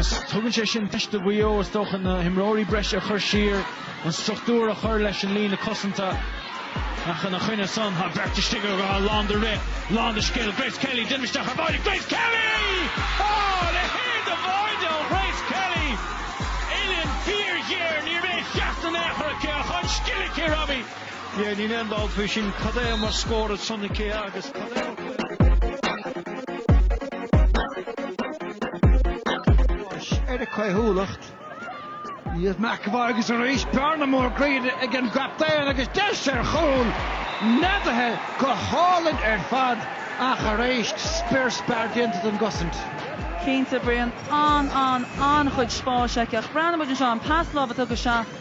Agus tugann sé sin deis do Mhaigh Eo, is dócha, na himreoirí breise a chur siar, an struchtúr a chur leis an líne cosanta. Ach ina choinne san, tá beirt istigh atá lán de rith, lán de scil, Grace Kelly, déanamh isteach ar báide Grace Kelly! Áááá! Leithéid de bháide ó Grace Kelly! Uillinn fíorghéar, ní raibh aon cheart in aon chor aici ach an scil aici, Robbie! Yeah níl aon dabht faoi sin cad é mar scór ansin aici agus cad é mar chuid de na cé Báis ar a caothúlacht. Niamh McEvoy agus arís bearna mór tríd ag an gcaptaen agus deis ar chúl neadaithe go hálainn ar fad ach arís spior spear déanta den gcosaint. Cinnte, Brian. An, an, an-chuid spáis aici ach breathnaíonn muid anseo an pas lámh a tugadh isteach.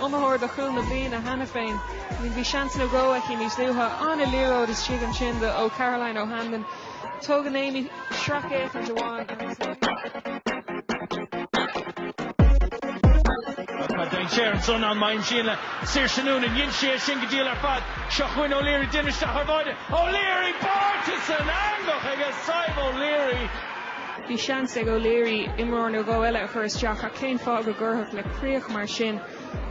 iomaitheoir do chúl na bliana cheana féin. I mean bhí seans nó dhó aici níos luaithe. An-liathróid istigh ansin ó Caroline O'Hanlon. Tógann Aimee sracfhéachaint amháin agus na. Tá dainséar anso ná an-mhaith ansin le Saoirse Noonan dhein sí é sin go diail ar fad. Seo chugainn O'Leary déanamh isteach ar báide. O'Leary báite san eangach aige Sadhbh O'Leary. Bhí seans ag O'Leary imreoir nó dhó eile a chur isteach ach cén fáth go gcuirfeadh le críoch mar sin?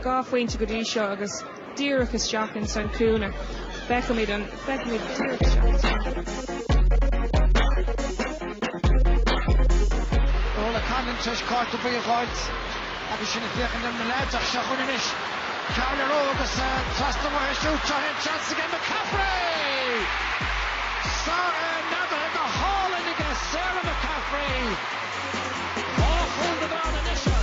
Dhá phointe go dtí seo agus díreach isteach in san cúinne. Feicfimid an feicfimid díreach isteach in san cúinne. Ó le Cannon tar éis cárta buí a dh'fháilt. Agus sinn ag féachaint ar na leaids ach seo chugainn anois Carla Rowe agus trasna uaithi siúd seo é an seans aige McCaffrey! Sarah neadaithe go hálainn aige Sarah McCaffrey! Dhá chúl na gcrann anois ar.